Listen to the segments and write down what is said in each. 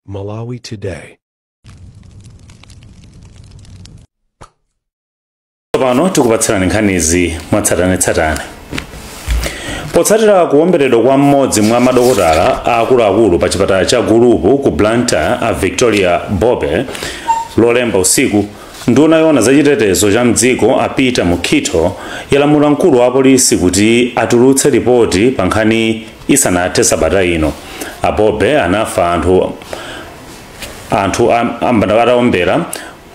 Malawi Today. tsopano tikupatsirani nkhanizi mwatsatanetsatane potsatira kuwomberedwa kwa mmodzi mwa madokotala akuluakulu pa chipatala cha gulupu ku blantyre a victoria bobe lolemba usiku nduna yoona za chitetezo cha mdziko a peter mukhito yalamula mkulu wa polisi kuti atulutse lipoti pa nkhani isanathe sabata ino. A Bobe anafa anthu atawaombera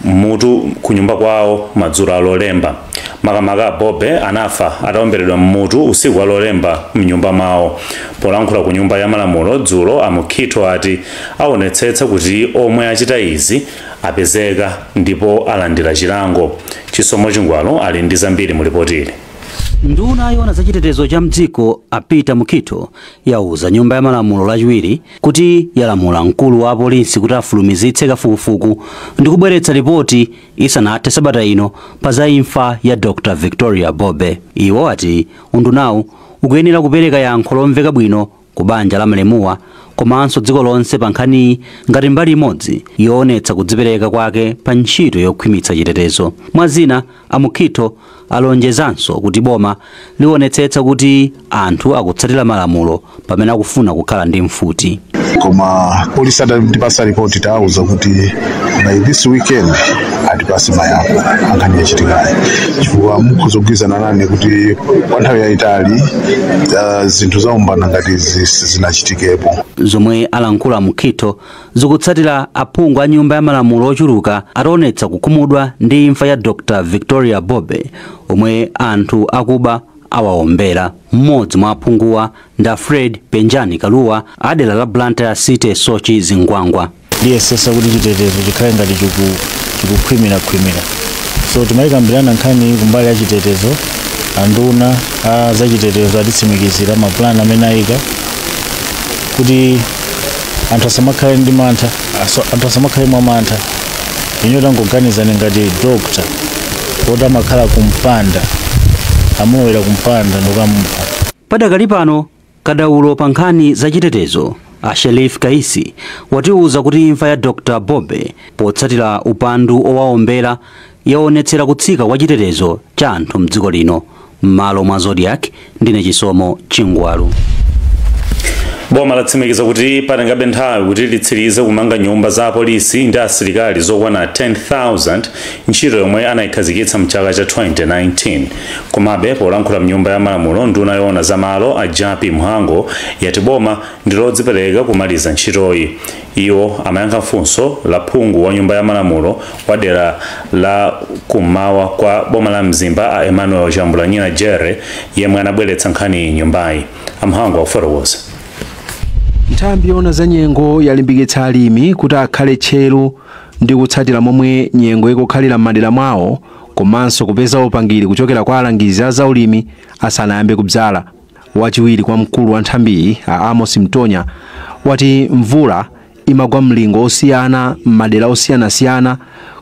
mmutu kunyumba kwawo madzulo a lolemba makamaka a bobe anafa ataomberedwa mmutu usiku wa lolemba mnyumba mwawo polankhula ku nyumba ya malamulo dzulo a mukhito ati aonetsetsa kuti omwe achita izi apezeka ndipo alandira chilango chisomo chingwalu ali ndi zambiri mu lipotili Nduna yoona za chitetezo cha mdziko a Peter Mukhito yauza nyumba ya malamulo lachiwiri kuti yalamula mkulu wa apolisi kuti afulumizitse kafukufuku ndi kubweretsa lipoti isanathe sabata ino pa za imfa ya Dr Victoria Bobe. Iwo ati undunawu ukuyenera kupereka yankho lomveka bwino ku banja la malemuwa komanso dziko lonse pa nkhaniyi ngati mbali imodzi yoonetsa kudzipereka kwake pa ntchito yokhwimitsa chitetezo mwa zina a mukhito alonjezanso kuti boma lionetsetsa kuti anthu akutsatira malamulo pamene akufuna kukhala ndi mfuti koma apolisi atipasa ripoti tawauza kuti by this weekend atipase mayankho a nkhani yachitikayi chifukwa mukhoza kugwirizana nane kuti kwa nthawi yayitali ah, zinthu zaumbanda ngati izi sizinachitikepo zomwe alankhula a mukhito zikutsatira aphungu a nyumba ya malamulo ochuluka ataonetsa kukhumudwa ndi imfa ya dr victoria bobe omwe anthu akuba awaombera mmodzi mwa aphunguwa ndi a fred penjani kalua a dera la blantyre city soche zingwangwa liyesesa kuti chitetezo chikhale ngati chiku- chikukhwimirakhwimira so timayikambirana nkhani kumbali ya chitetezo anduna a zachitetezo atitsimikizira mapulani amene ayika kuti anthu asamakhale ndi mantha aso- anthu asamakhale mwa mantha inuyo tangoganizani ngati dokta woti amakhala kumpanda amulowera kumpanda ndikukamupha Padakali pano Kadaulo pa nkhani za chitetezo a Sherif Kaisi watiuza kuti imfa ya Dr Bobe potsatira upandu wowaombera yaonetsera kutsika kwa chitetezo cha anthu mdziko lino. M'malo mwa Zodiak, ndine Chisomo Chingwalu. Boma latsimikiza kuti patengabe nthawi kuti litsirize kumanga nyumba za apolisi ndi asilikali zokwana 10,000 ntchito yomwe anayikhazikitsa mchaka cha 2019 komabe polankhula mnyumba ya malamulo nduna yoona za malo a jappie mhango yati boma ndilodzipereka kumaliza ntchitoyi iwo amayankha funso la phungu wa nyumba ya malamulo wa dera la kummawa kwa boma la mzimba a emmanuel chambulanyina jere yemwe anabweretsa nkhaniyi mnyumbayi a mhango akufotokoza nthambi yoona za nyengo yalimbikitsa alimi kuti akhale tcheru ndi kutsatira momwe nyengo ikukhalira m'madera mwawo komanso kupeza upangiri kuchokera kwa alangizi a zaulimi asanayambe kudzala. Wachiwiri kwa mkulu wa nthambiyi a Amos Mtonya wati mvula imagwa mlingo osiyana m'madera osiyanasiyana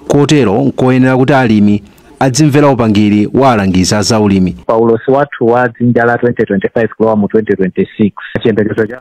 kotero nkoyenera kuti alimi adzimvera upangiri wa alangizi a zaulimi. pa ulosi wathu wa dzinja la 2025 kulowa mu 2026 chiyembekezo cha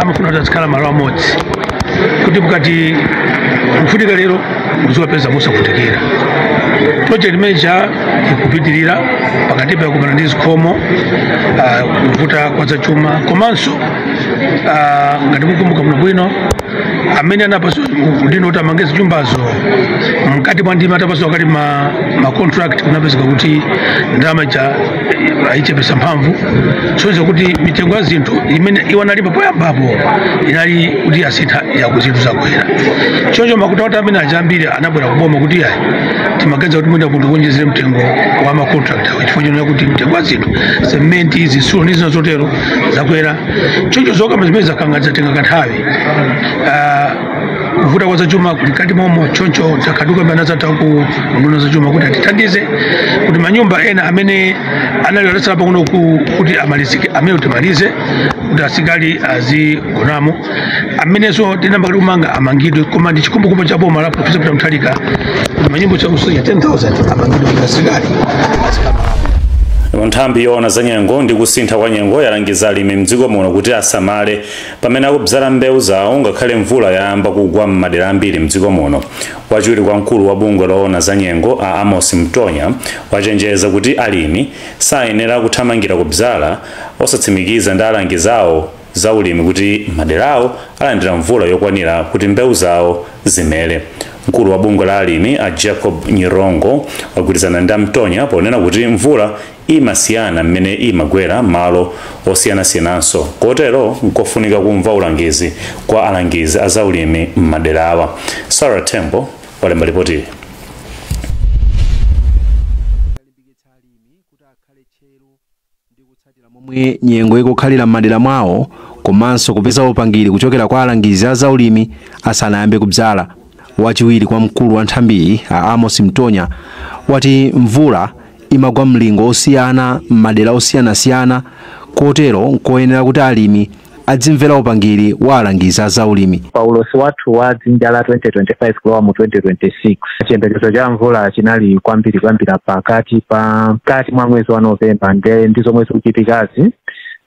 amafuna kuti azikhala malo amodzi kuti mukati kufunika lero muziwapeza osavutikira project imene ija ikupitirira pakatipa yakumana ndi zikhomo ah, kuvuta kwa zachuma komanso ah, ngati mukumbuka bwinobwino amene anapatsidwa udindo kuti amange zinyumbazo mkati mwa ndima atapatsidwa kale ma, ma contract kunapezeka kuti ndalama ija ayichepetsa mphamvu kusonyeza kuti mitengo ya zinthu imene iwo analemba poyambapo inali kuti yasintha yaku zinthu zakwera choncho macontractor amene aja ambiri anabwera kuboma kuti ayi timaganiza kuti mwina mutionjezere mtengo wa macontractor chifukwa chonena kuti mtengo wa zinthu sementi zitsulo ndi zina zotero zakwera choncho zokamba zimene zakanga zatenga kanthawi Ah, kuvuta kwa zachuma kuli mkati momo choncho takhala tikukambirana ndi anzathu a ku unduna wa zachuma kuti atithandize kuti manyumba ena amene anali atatsala pang'ono ku- kuti amalizike amenewo timalize kuti asilikali azigonamo amenenso tinayamba kale kumanga amangidwe koma ndi chikhumbokhumbo cha boma la profesa peter mutharika kuti manyumba chakusonya 10000 amangidwe kuti asilikali nthambi yoona za nyengo ndi kusintha kwa nyengo yalangiza alimi mdziko muno kuti asamale Pamene akubzala mbewu zawo ngakhale mvula yayamba kugwa m'madera ambiri mdziko muno, wachiwiri kwa mkulu wa bungwe loona za nyengo a Amos Mtonya wachenjeza kuti alimi sayenera kuthamangira kubzala osatsimikiza ndi alangizi awo za ulimi kuti maderawo alandira mvula yokwanira kuti mbewu zawo zimere. Mkulu wa bungwe la alimi a Jacob Nyirongo wagwirizana ndi a Mtonya ponena kuti mvula imasiyana mmene imagwera m'malo osiyanasiyananso kotero nkofunika kumva ulangizi kwa alangizi a zaulimi m'maderawa. Sarah Tembo walemba lipotili. momwe nyengo ikukhalira m'madera mwawo komanso kupeza upangiri kuchokera kwa alangizi a zaulimi asanayambe kudzala. Wachiwiri kwa mkulu wa nthambiyi a Amos Mtonya wati mvula imagwa mlingo osiyana m'madera osiyanasiyana kotero nkoyenera kuti alimi adzimvera upangiri wa alangizi a zaulimi. Pa ulosi wathu wa dzinja la 2025 kulowa mu 2026, chiyembekezo cha mvula chinali kwambiri kuyambira pakati pa mkati mwa mwezi wa November ndiye ndi zomwe zikuchitikazi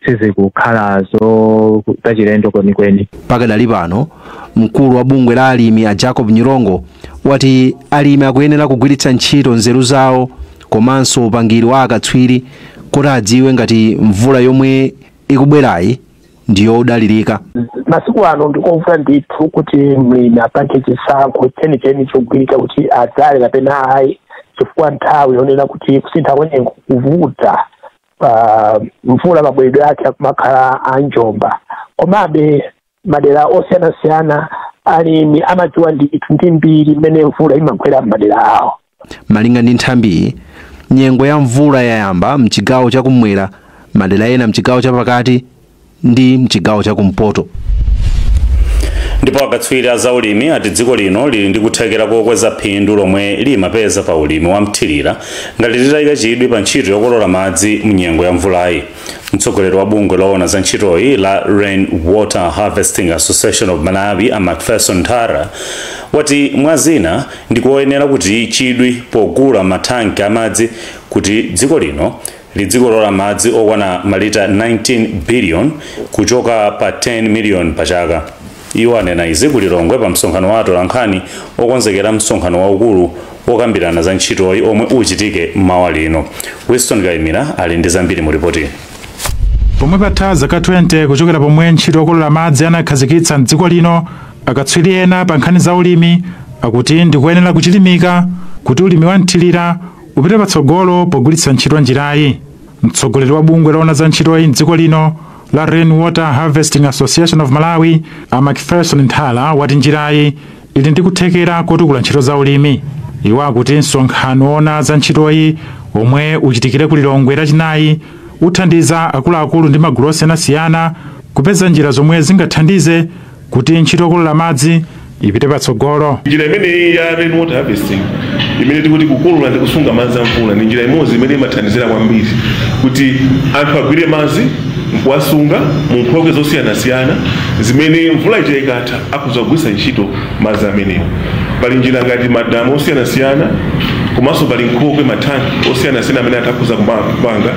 sizikukhala zo zachilendo kwenikweni. Pakadali pano, Mkulu wa bungwe la alimi a Jacob Nyirongo wati alimi akuyenera kugwiritsa ntchito nzeru zawo komanso upangiri wa akatswiri kuti adziwe ngati mvula yomwe ikubwerayi ndi yodalirika. masiku ano ndikovuta ndithu kuti mlimi apange chisankho chenicheni chogwirika kuti adzale kapena ayi chifukwa nthawi yonena kuti kusintha kwenyengo kuvuta mvula mabweredwe ake akumakhala a njomba komabe madera osiyanasiyana alimi amadziwa ndithu ndi mbiri mmene mvula imagwera m'madera awo malinga ndi nthambiyi nyengo ya mvula yayamba mchigawo chakumwera madera ena mchigawo chapakati ndi mchigawo chakumpoto ndipo akatswiri a zaulimi ati dziko lino lili ndi kuthekera kokweza phindu lomwe limapeza pa ulimi wa mthirira ngati litayika chidwi pa ntchito yokolola madzi mu nyengo ya mvulayi Mtsogoleri wa bungwe loona za ntchitoyi la Rain Water Harvesting Association of Malawi a Macpherson Nthala wati mwa zina ndikoyenera kuti chidwi pogula mathanki amadzi kuti dziko lino lidzikolola madzi okwana malita 19 billion kuchoka pa 10 million pachaka. Iwo anena izi ku Lilongwe pa msonkhano wa atolankhani okonzekera msonkhano waukulu wokambirana za ntchitoyi omwe uchitike mmawa lino. Winston Kaimira ali ndi zambiri mu lipotili. Pomwe patha zaka 20 kuchokera pomwe ntchito yokolola madzi anakhazikitsa m'dziko lino, akatswiri ena pa nkhani za ulimi akuti ndikuyenera kuchilimika kuti ulimi wa mthirira upite patsogolo pogwiritsa ntchito njirayi. Mtsogoleri wa bungwe loona za ntchitoyi m'dziko lino la Rain Water Harvesting Association of Malawi a Macpherson Nthala wati njirayi ili ndi kuthekera kotukula ntchito za ulimi. Iwo akuti msonkhano woona za ntchitoyi omwe uchitikire ku Lilongwe lachinayi uthandiza akuluakulu ndi magulu osiyanasiyana kupeza njira zomwe zingathandize kuti ntchito yokolola madzi ipite patsogolo. Njira imeneyi ya rain water harvesting imene tikuti kukolola ndi kusunga madzi a mvula ndi njira imodzi imene imathandizira kwambiri kuti anthu agwire madzi nkuwasunga mu nkhokwe zosiyanasiyana zimene mvula ija ikatha akhoza kugwiritsa ntchito madzi amenewo. Pali njira ngati madamu osiyanasiyana komanso pali nkhokwe, mathanki osiyanasiyana amene anthu akhoza kupanga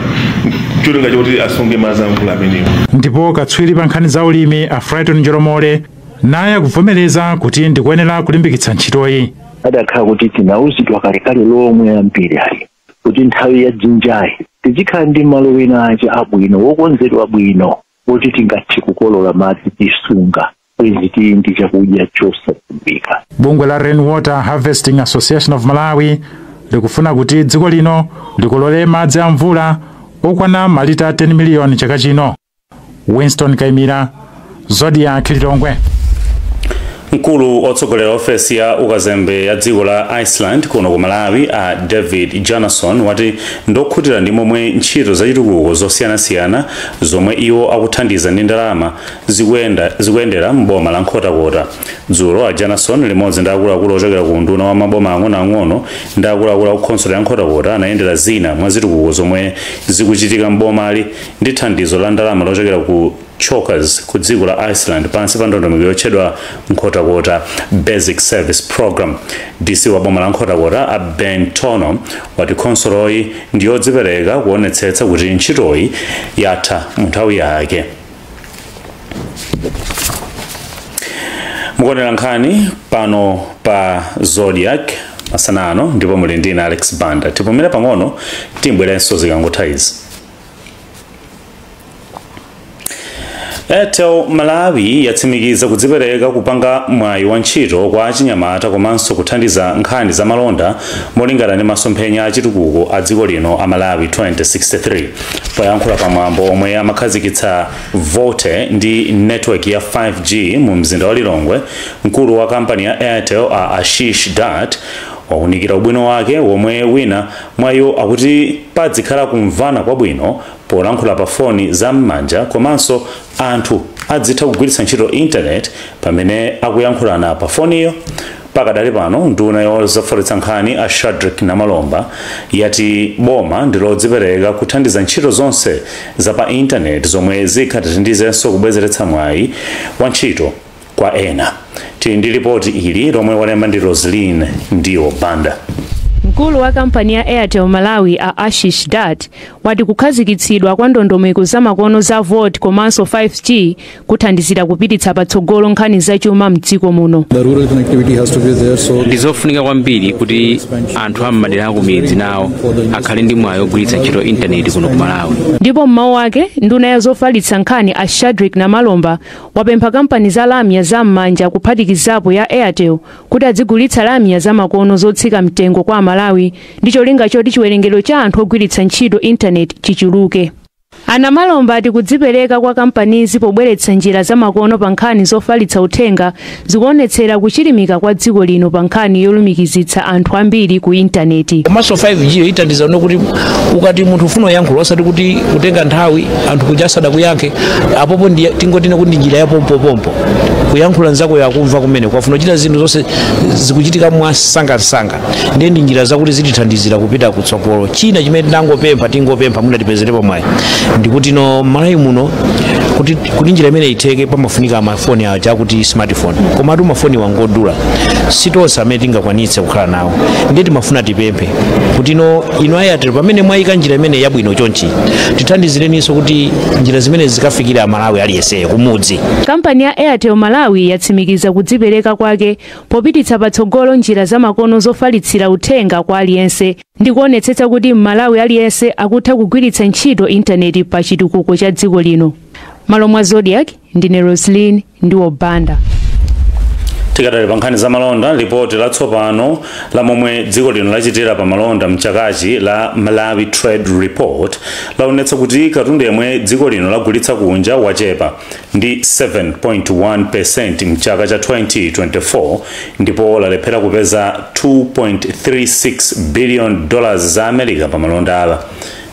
cholinga choti asunge madzi a mvula amenewo ndipo katswiri pa nkhani za ulimi a frighton njolomole naye akuvomereza kuti ndikoyenera kulimbikitsa ntchitoyi adakhala kuti tinauzidwa kalekale lomwe ambiri ali kuti nthawi ya dzinjayi tizikhala ndi malo ena ake abwino wokonzedwa bwino woti tingathe kukolola madzi tisunga bwezi tili ndi chakudya chosadziwika bungwe la rainwater harvesting association of malawi likufuna kuti dziko lino likolole madzi a mvula okwana malita 10 miliyoni chaka chino winston kaimira zodiak lilongwe mkulu otsogolera ofesi ya ukazembe ya dziko la iceland kuno ku malawi a david bjarnason wati ndokhutira ndi momwe ntchito zachitukuko zosiyanasiyana zomwe iwo akuthandiza ndi ndalama zikuyendera m'boma la Nkhotakota. Dzulo a Bjarnason limodzi ndi akuluakulu ochokera ku unduna wa maboma ang'onoang'ono ndi akuluakulu a ku khonsolo ya Nkhotakota anayendera zina mwa zitukuko zomwe zikuchitika m'bomali ndi thandizo la ndalama lochokera ku chokera ku dziko la Iceland pansi pa ndondomeko yotchedwa Nkhotakota Basic Service Program. DC wa boma la Nkhotakota a Ben Tohno wati khonsoloyi ndi yodzipereka kuonetsetsa kuti ntchitoyi yatha mu nthawi yake. mukuonera nkhani pano pa zodiak masana ano ndipo muli ndi ine alex banda tipumira pang'ono tibwerenso zikangotha izi airtel malawi yatsimikiza kudzipereka kupanga mwayi wa ntchito kwa achinyamata komanso kuthandiza nkhani za malonda molingana ndi masomphenya achitukuko a dziko lino a malawi 2063 poyankhula pa mwambo omwe amakhazikitsa volte ndi network ya 5g mu mzinda wa lilongwe mkulu wa kampani ya airtel a ashish dutt waunikira ubwino wake womwe wina mwa iwo akuti padzikhala kumvana kwabwino polankhula pa foni za m'manja komanso anthu adzitha kugwiritsa ntchito intaneti pamene akuyankhulana pa foniyo Pakadali pano nduna yozofalitsa nkhani a Shadric Namalomba yati boma ndilodzipereka kuthandiza ntchito zonse za pa intaneti zomwe zingathandizenso kubwezeretsa mwayi wa ntchito kwa ena. Tili ndi lipoti ili lomwe walemba ndi Roslyn Ndiwo Banda. Mkulu wa kampani ya Airtel Malawi a Ashish Dutt wati kukhazikitsidwa kwa ndondomeko zamakono za VoLTE komanso 5G kuthandizira kupititsa patsogolo nkhani zachuma mdziko muno ndi zofunika kwambiri kuti anthu a m'madera akumidzi nawo akhale ndi mwayi ogwiritsa ntchito intaneti kuno ku malawi ndipo mmawu ake nduna ya zofalitsa nkhani a shadrick namalomba apempha kampani za lamya za m'manja kuphatikizapo ya airtel kuti adzigulitsa lamya za makono zotsika mtengo kwa amalawi ndi cholinga choti chiwerengero cha anthu ogwiritsa ntchito intaneti chichuluke A Namalomba ati kudzipereka kwa kampanizi pobweretsa njira zamakono pa nkhani zofalitsa uthenga zikuonetsera kuchilimika kwa dziko lino pa nkhani yolumikizitsa anthu ambiri ku intaneti. komanso 5g yo ithandiza kuti ukati munthu ufuna kuyankhula osati kuti kutenga nthawi anthu kuja asadakuyankhe apopo ndi tingonena kuti ndi njira ya pompopompo kuyankhula nzakoyo akumva kumene ukafuna kuchita zinthu zonse zikuchitika mwamsangamsanga ndiye ndi njira zakuti zitithandizira kupita kutsogolo china chimene tinangopempha tingopempha mwina tipezerepo mwayi ndikuti no malawi muno kuti, kuti njira imeneyi itheke pamafunika mafoni aja akuti smartphone komatu mafoni wa ngodula sitonse amene tingakwanitse kukhala nawo ndiye timafuna tipemphe kuti no inu a airtel pamene mwayika njira imeneyi yabwino chonchi tithandizireninso kuti njira zimenezi zikafikire amalawi aliyenseyo kumudzi kampani ya airtel malawi yatsimikiza kudzipereka kwake popititsa patsogolo njira zamakono zofalitsira uthenga kwa aliyense ndi kuonetsetsa kuti m'malawi aliyense akutha kugwiritsa ntchito intaneti pa chitukuko cha dziko lino m'malo mwa zodiak ndine roslin ndiwo banda tikadali pa nkhani za malonda lipoti latsopano la momwe dziko lino lachitira pa malonda mchakachi la malawi trade report laonetsa kuti katundu yemwe dziko lino lagulitsa kunja wachepa ndi 7.1% m'chaka cha 2024 ndipo lalephera kupeza 2.36 billion dollars za America pa malonda awa.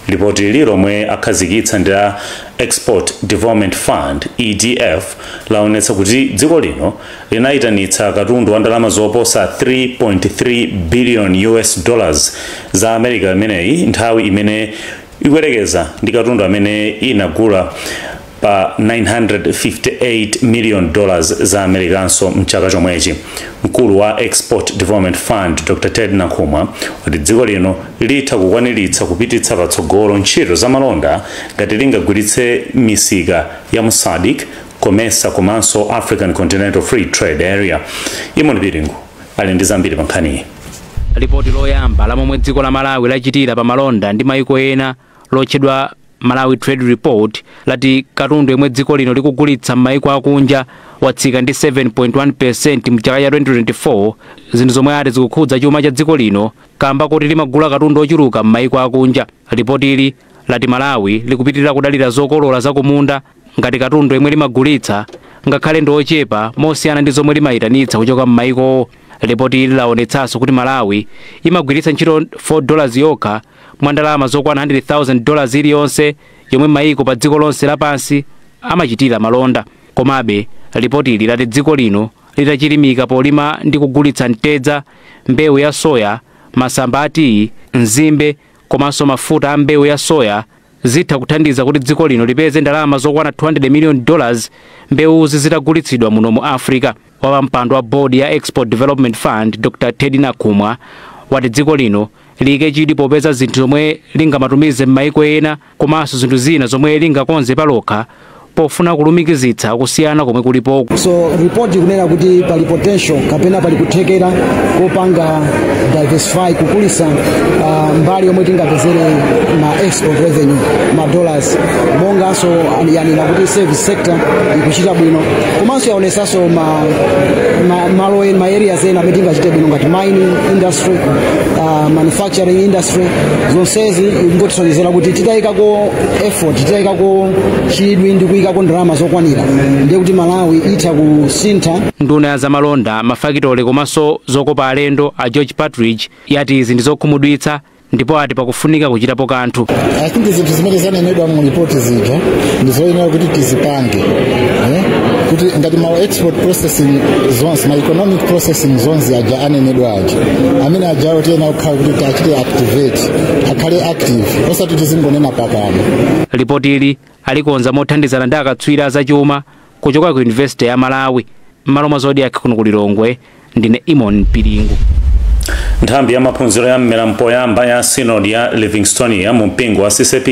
Lipotili lomwe akhazikitsa ndi a Export Development Fund EDF laonetsa kuti dziko lino linayitanitsa katundu wa ndalama zoposa 3.3 billion dollars za America imeneyi nthawi imene ikuyerekeza ndi katundu amene inagula pa 958 miliyoni dollars za americanso mchaka chomwechi mkulu wa export development fund dr ted nakhumwa wati dziko lino litha kukwaniritsa kupititsa patsogolo ntchito za malonda ngati lingagwiritse misika ya mu sadc comesa komanso african continental free trade area eamon piringu ali ndi zambiri pa nkhaniyi lipoti loyamba la momwe dziko la malawi lachitira pa malonda ndi maiko ena lotchedwa Malawi Trade Report lati katundu yemwe dziko lino likugulitsa m'mayiko akunja watsika ndi 7.1% mchaka cha 2024, zinthu zomwe ati zikukhudza chuma cha dziko lino kaamba koti limagula katundu ochuluka m'mayiko akunja. Lipotili lati Malawi likupitilira kudalira zokolola zakumunda ngati katundu yemwe limagulitsa ngakhale ndi ochepa mosiyana ndi zomwe limayitanitsa kuchoka m'mayikowo. Lipotili lawonetsanso kuti Malawi imagwiritsa ntchito 4 dollars yokha mwa ndalama zokwana 100,000 dollars iliyonse yomwe mayiko pa dziko lonse lapansi amachitira malonda. Komabe, lipotili lati dziko lino litachilimika polima ndi kugulitsa mtedza, mbewu ya soya, masamba a tiyi, nzimbe komanso mafuta a mbewu ya soya, zitha kuthandiza kuti dziko lino lipeze ndalama zokwana 200 million dollars mbewuzi zitagulitsidwa muno mu africa wapampando wa board ya export development fund dr teddy nakhumwa wati dziko lino liyike chidwi popeza zinthu zomwe lingamatumize m'maiko ena komanso zinthu zina zomwe lingakonze palokha pofuna kulumikizitsa kusiyana komwe kulipoko so report ikunena kuti pali potential kapena pali kuthekera kopanga diversify kukulitsa uh, mbali yomwe tingapezere ma export revenue ma dollars monganso yanena kuti service sector ikuchita bwino komanso yaonesanso ma, ma, malo en- ma areas ena amene tingachite bwino ngati mining industry uh, manufacturing industry zonsezi ingotisonyezera kuti titayikako effort titayikako chidwi ndi kuyikako ndalama zokwanira ndiye kuti malawi itha kusintha nduna ya zamalonda mafakitole komanso zokopa alendo a george partridge yati izi ndi zokhumudwitsa ndipo ati pakufunika kuchitapo kanthu i think zinthu zimene zanenedwa mu ripoti zija ndi zoyenera kuti tizipange eh? kuti ngati ma export processing zones ma economic processing zones aja anenedwa aja amene ajawo tiyenera kukhala kuti tiachite activate akhale active osati tizingonena pakamwa lipoti ili alikonza mothandizana ndi akatswiri a zachuma kuchoka ku yunivesite ya malawi m'malo mwa zodiak kuno ku lilongwe ndine imon pilingu nthambi ya maphunziro ya mmera mpoyamba ya synod ya livingstonia mu mpingo wa ccap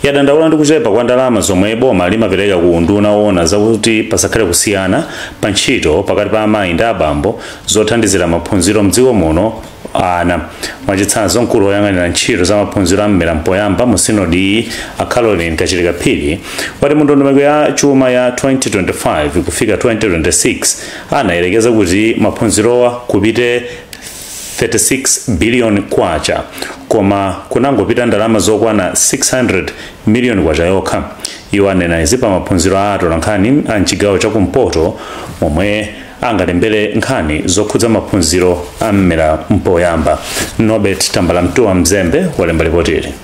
yadandaula ndi kuchepa kwa ndalama zomwe boma limapereka ku unduna woona zakuti pasakhale kusiyana pa ntchito pakati pa amayi ndi abambo zothandizira maphunziro mdziko muno ana mwachitsanzo mkulu woyang'anira ntchito za maphunziro a mmera mpoyamba mu sinodi iyi a caroline kachilika phiri wati mu ndondomeko ya chuma ya 2025 kufika 2026 anayerekeza kuti maphunzirowa kupite 36 billion kwacha koma kunangopita ndalama zokwana 600 miliyoni kwacha yokha iwo anena izi pa maphunziro a atolankhani a mchigawo cha kumpoto momwe angalembere nkhani zokhudza maphunziro a mmera mpoyamba norbert tambalamtuwa mzembe walemba lipotili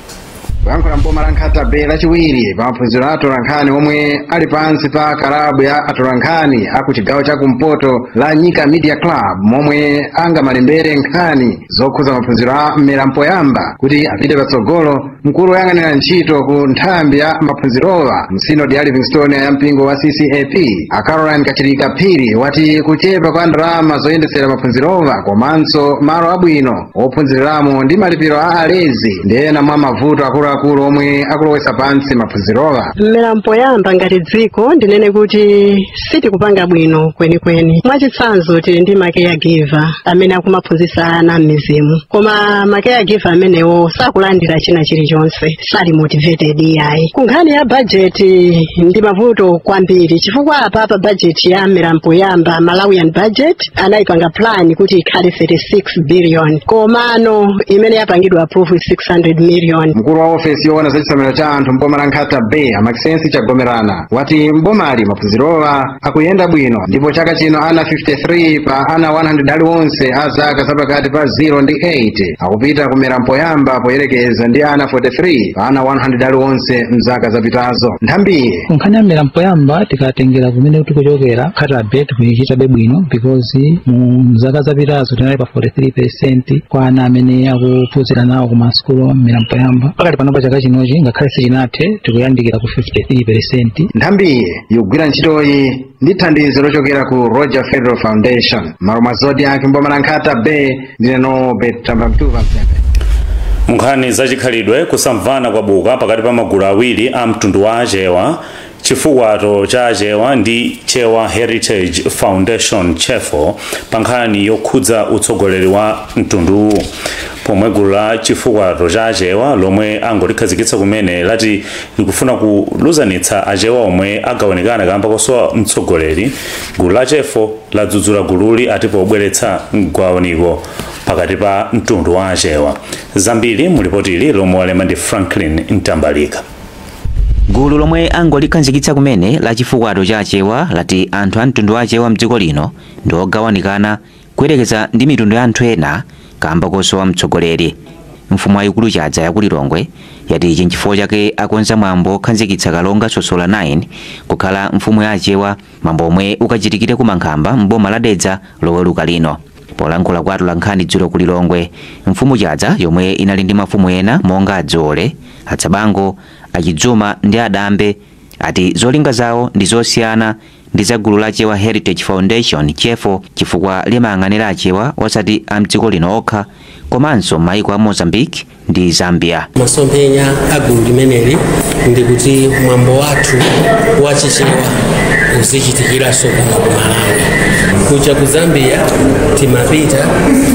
poyankhula mboma la nkhata bay lachiwiri pa maphunziro a atolankhani omwe ali pansi pa kalabu ya atolankhani a ku chigawo cha kumpoto la nyika media club momwe angamalembere nkhani zokhudza maphunziro a mmera mpoyamba kuti apite patsogolo mkulu woyang'anira ntchito ku nthambi ya maphunzirowa mu sinodi ya livingstonia ya mpingo wa ccap a caroline kachilika phiri wati kuchepa kwa ndalama zoyendetsera maphunzirowa komanso malo abwino ophunziriramo ndi malipiro a alezi ndi ena mwa mavuto akuluakulu omwe akulowetsa pansi maphunzirowa mmera mpoyamba ngati dziko ndinene kuti sitikupanga bwino kwenikweni mwachitsanzo tili ndi ma caregiver amene akumaphunzitsa ana m'midzimu koma ma caregiver amenewo sakulandira china chilichonse sali motivated iyayi ku nkhani ya bajeti ndi mavuto kwambiri chifukwa apa pa bajeti ya mmera mpoyamba malawian budget anayipanga plan kuti ikhale 36 billion komano imene yapangidwa approve 600 million mkulu wa ofesi yoona za chisamaliro cha anthu mboma la nkhata bay a maxensi chagomerana wati m'bomali maphunzirowa akuyenda bwino ndipo chaka chino ana 53 pa ana 100 aliwonse a zaka zapakati pa 0 ndi 8 akupita ku mmera mpoyamba poyerekeza ndi ana 43 pa ana 100 aliwonse mzaka zapitazo nthambi ya nkhani ya mmera mpoyamba tikatengera kumene tikuchokera nkhata bay tikuyichitabe bwino because mu zaka zapitazo tinali pa 43 percent kwa ana amene akuphunzira nawo ku masukulu mmera mpoyamba pakati panopa chaka chinochi ngakhale sichinathe tikuyandikira 53%. nthambiyi ikugwira ntchitoyi ndi thandizo lochokera ku roger federer foundation mmalo mwa zodiak mboma la nkhata bay ndine norbert tambalamtuwa mzembe nkhani zachikhalidwe kusamvana kwabuka pakati pa magulu awiri a mtundu wa achewa chifukwato cha achewa ndi chewa heritage foundation chefo pa nkhani yokhudza utsogoleri wa mtunduwu pomwe gulu la chifukwato cha achewa lomwe angolikhazikitsa kumene lati likufuna kuluzanitsa achewa omwe agawanikana kamba kosowa mtsogoleri gulu la chefo ladzudzula gululi ati pobweretsa mgawaniko pakati pa mtundu wa achewa zambiri mulipotili lomwe walemba ndi franklin mtambalika gulu lomwe angolikhazikitsa kumene la chifukwato cha achewa lati anthu a mtundu wa achewa mdziko lino ndi ogawanikana Kuyerekeza ndi mitundu ya anthu ena kaamba kosowa mtsogoleri, mfumu yayikulu Chadza yaku Lilongwe yati ichi nchifukwa chake akonza mwambo wokhazikitsa Kalonga Sosola 9 kukhala mfumu ya Achewa mwambo omwe ukachitikire ku Mankhamba m'boma la Dedza loweruka lino. Polankhula kwa atolankhani dzulo ku Lilongwe, mfumu Chadza yomwe inali ndi mafumu ena monga a Dzoole, a Tsabango, a Chidzuma ndi a Dambe ati zolinga zawo ndi zosiyana ndi za gulu la Chewa Heritage Foundation Chefo chifukwa limayang'anira Achewa osati a mdziko lino okha komanso maiko a Mozambique ndi Zambia. masomphenya a gulu limeneli ndi kuti mwambo wathu wa Chichewa uzichitikiranso kuno ku malawi kuja ku zambia timapita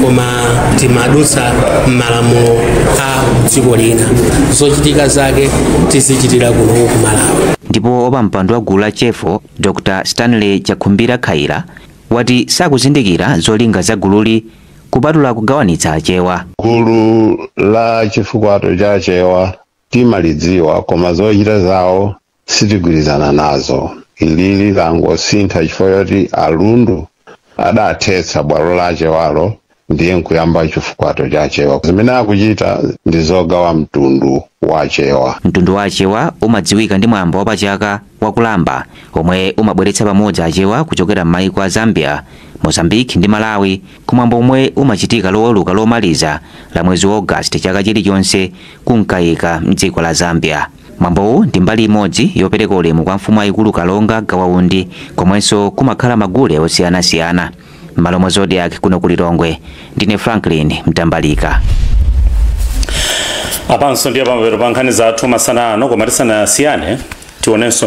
koma timadutsa m'malamulo a dziko lina zochitika zake tizichitira kuno ku malawi ndipo wapampando wa gulu la chefo dr stanley chakhumbira khaila wati sakuzindikira zolinga za gululi kupatula kugawanitsa achewa gulu la chifukwato cha achewa timalidziwa koma zochita zawo sitigwirizana nazo ilili langosintha chifukwa choti alundu adathetsa bwalo la achewalo ndiye nkuyamba chifukwato cha achewa zimene akuchita ndi zogawa mtundu wa achewa mtundu wa achewa umadziwika ndi mwambo wa pachaka wa kulamba omwe umabweretsa pamodzi achewa kuchokera m'mayiko a zambia mozambique ndi malawi kumwambo omwe umachitika loweruka lomaliza la mwezi wa august chaka chilichonse ku Mkaika mdziko la zambia Mwambowu ndi mbali imodzi yopereka ulemu kwa mfumu yayikulu Kalonga Gawa Undi komwenso kumakhala magule osiyanasiyana. M'malo mwa Zodiak kuno ku Lilongwe, ndine Franklin Mtambalika. apanso ndiye pamapeto pa nkhani zathu masana ano koma tisanasiyane tionenso